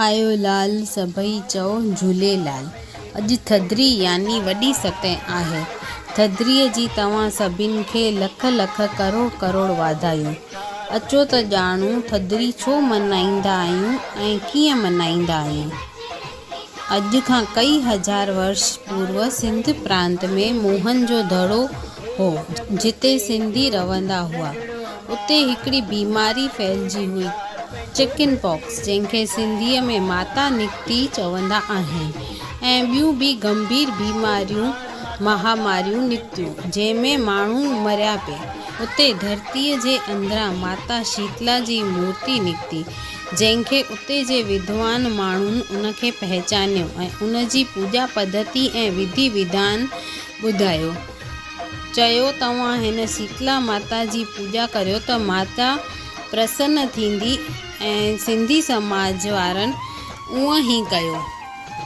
آيو لال سڀئي چئو جهوليلال. اڄ ٿڌڙي يعني وڏي ستين آهي. ٿڌڙي جي توهان سڀني کي لک لک ڪروڙ ڪروڙ واڌايون. اچو ته ڄاڻون ٿڌڙي ڇو ملهائيندا آهيون ۽ ڪيئن ملهائيندا آهيون. اڄ کان ڪئي هزار ورش پورو سنڌ پرانت ۾ موهن جو دڙو، هو، جتي سنڌي رهندا هئا، اتي هڪڙي بيماري ڦهلجي هئي، چڪن پاڪس، جنهن کي سنڌيء ۾ ماتا نڪتي چوندا آهن ۽ ٻيون به گنڀير بيماريون، مهاماريون، نڪتيون، جنهن ۾ ماڻهو مريا پي. اتي ڌرتيء جي اندران ماتا شيتلا جي مورتي نڪتي، جنهن کي اتي جي وڌوان ماڻهن ان کي پهچانيو ۽ ان جي پوڄا پڌتي ۽ وڌي وڌان ٻڌايو. چيو توهان هن شيتلا ماتا جي پوڄا ڪريو ته ماتا پرسن ٿيندي ۽ سنڌي سماج وارن اونء هي ڪيو.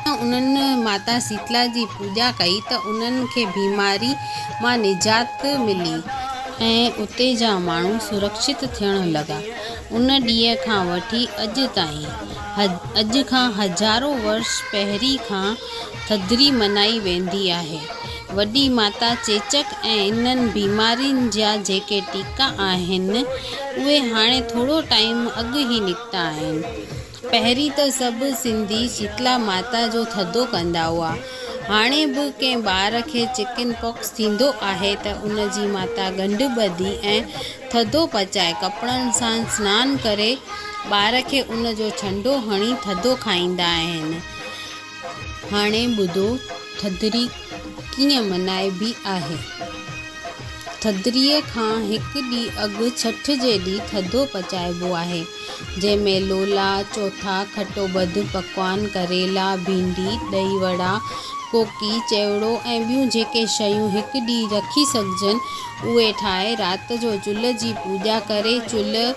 جڏهن انهن ماتا شيتلا جي پوڄا ڪئي ته انهن کي بيماري مان نجات ملي ۽ اتي جا ماڻهو سرڪشت ٿيڻ لڳا. ان ڏينهن کان وٺي اڄ تائين، اڄ کان هزارون ورش پهرين کان ٿڌڙي منائي ويندي آهي. وڏي ماتا چيچڪ ۽ انهن بيمارين جا جيڪي ٽيڪا آهن، اهي هاڻي ٿورو ٽائيم اڳ ئي نڪتا آهن. پهرين ته سڀ سنڌي شيتلا ماتا جو ٿڌو ڪندا هئا. هاڻي به ڪنهن ٻار کي چڪن پاڪس ٿيندو آهي ته ان جي ماتا ڳنڍ ٻڌي ۽ ٿڌو پچائي، ڪپڙن سان سنان ڪري، ٻار کي ان جو ڇنڊو هڻي ٿڌو کائيندا آهن. هاڻي ٻڌو ٿڌڙي ڪيئن ملهائبي آهي. ٿڌڙيء کان هڪ ڏينهن اڳ ڇٺ جي ڏينهن ٿڌو پچائبو آهي، جنهن ۾ لولا، چوٿا، کٽو ٻڌ، پڪوان، ڪريلا، ڀينڊي، ڏهي وڙا، ڪوڪي، چيوڙو ۽ ٻيون جيڪي شيون هڪ ڏينهن رکي سگهجن، اهي ٺاهي رات جو چلهه جي پوڄا ڪري، چلهه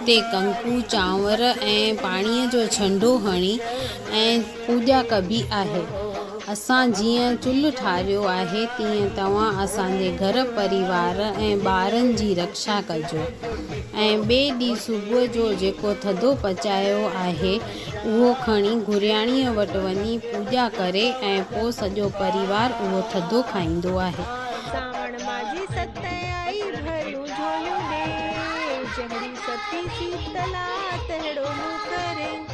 تي ڪنڪو، چانور ۽ پاڻيء جو ڇنڊو هڻي، ۽ پوڄا ڪبي آهي. اسان جيئن چلهه ٺاريو آهي تيئن توهان اسان جي گهر پريوار ۽ ٻارن جي رڪشا ڪجو ۽ ٻئي ڏينهن صبح جو جيڪو ٿڌو پچايو آهي اهو کڻي گرياڻيء وٽ وڃي پوڄا ڪري ۽ پوء سڄو پريوار اهو ٿڌو کائيندو آهي. سانوڻ ماجي ست آئي ڀريون جهوليون ڏي. جهڙي ستي سيتلا تهڙو مون ڪرين.